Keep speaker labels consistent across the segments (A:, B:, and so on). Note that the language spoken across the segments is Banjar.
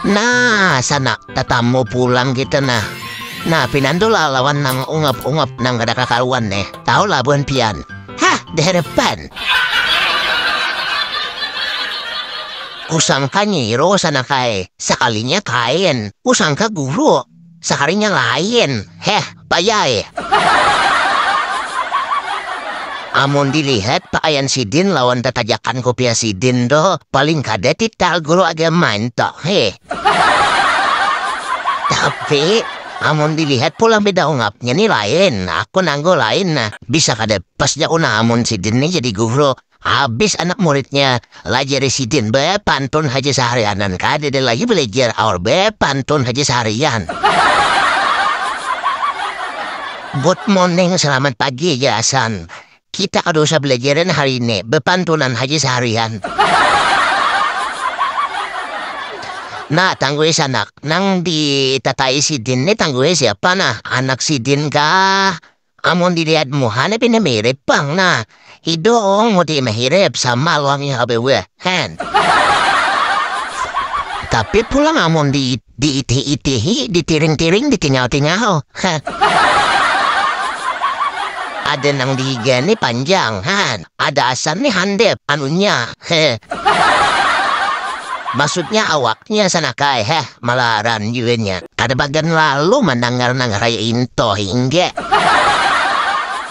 A: Nah, sana tatamu pulang kita nah. Nah, pinan tu lah lawan nang ungap-ungap nang kada kakaruan neh. Tahu lah buhan pian. Hah, diharapan. Kusangka nyiro sana kae. Sakalinya kaen. Kusangka guru. saharinya lain heh bayai amun dilihat pakaian sidin lawan tatajakan kopiah sidin tu paling kada tital guru agama ento heh tapi amun dilihat pulang beda ungapnya ni lain aku nanggu lain nah bisa kada pas ja aku nah amun sidin ni jadi guru Habis anak muridnya lajar di sidin be pantun haja saharianan kada ada lagi belajar aur be pantun haja saharian. Good morning selamat pagi ja asan kita kada usah belajaran hari ini be pantunan haja saharian. Nah tangguhis anak nang di tatai sidin ni tangguhis siapa nah anak sidin kah Amun dilihat muhanya pina mirip pang nah, hidung muti mahirip sama luangnya hape weh hen. Tapi pulang amun di diitih-itihi, ditiring-tiring, ditingau-tingau heh. Ada nang dihiga ni panjang han. Ada asar nih handep anunya heeh. Maksudnya awaknya sana kai heh malaran jua nya. Kada bagan lalu mandangar nangar ai intoh inggeh.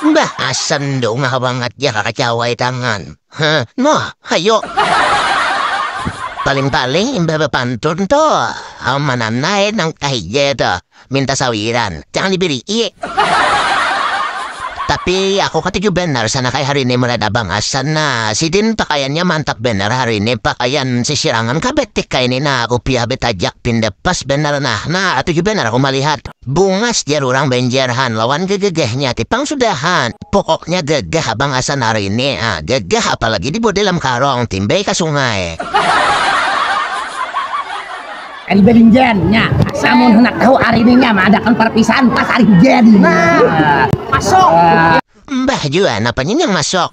A: Mbah asar ndongah bangat jar kakacawai tangan heh noh hayo. Paling-paling imbah bapantun tuh amananai nang kahija tuh. Minta sawiran, jangan dibiri'i. Tapi aku katuju banar sana kaya hari ini melihat abang Hasan nah, sidin pakaiannya mantap banar hari ini, pakaian sisirangan kah betik kah ini nah, kupiah betajak pinda pas banar nah, nah katuju banar aku malihat. Bungas jar urang Banjar han lawan gegegehnya ti pang sudah han, pokoknya gagah abang Hasan hari ini, ah gagah apalagi dibuat dalam karong, timbai ka sungai.
B: Ari Beringgen nya amun handak tahu ari ni nya maadakan parpisahan pas ari gen nah masuk. Mbah
A: jua napa ni nang masuk.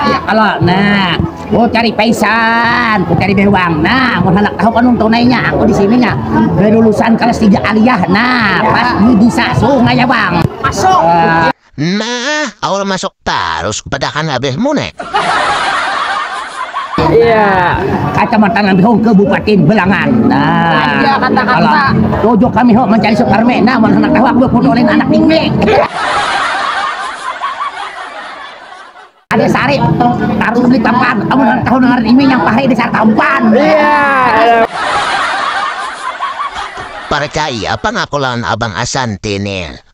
B: Yak kalo nah ku cari paisan ku cari bewang nah mun handak tahu panun tunai nya aku di sini nya lulusan kalas tiga aliyah nah pas di disa sungai abang masuk. Nah,
A: aul masuk tarus kupadakan abehmu ne.
B: Kacamatan Ambihung, Kabupatin Belangan. Tujuh kami ho mancari Suparme, nah mun handak tahu aku baputu ulin anak Tingke. Ada sari tarus di papan, amun handak tahu ngaran imi nang pahri di sari tampan.
A: Parcaya pang aku lawan Abang Asanti ne.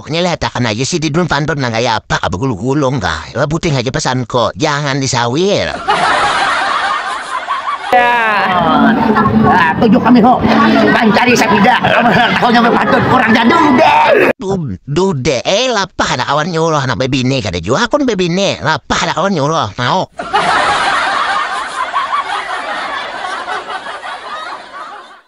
B: Pokoknya lihatakan
A: aja si Didun Pandon nang kaya apa ka begulung-gulung kah. Lah puting aja pesanku, jangan disawir. Ah,
B: tujuh kami ho. Mancari sabida. Tahunya berpantun kurang jadung deh. Du- Dude,
A: eh lapah ada kawan nyuruh anak bebini kada jua akun bebini. Lapah ada kawan nyuruh, mau.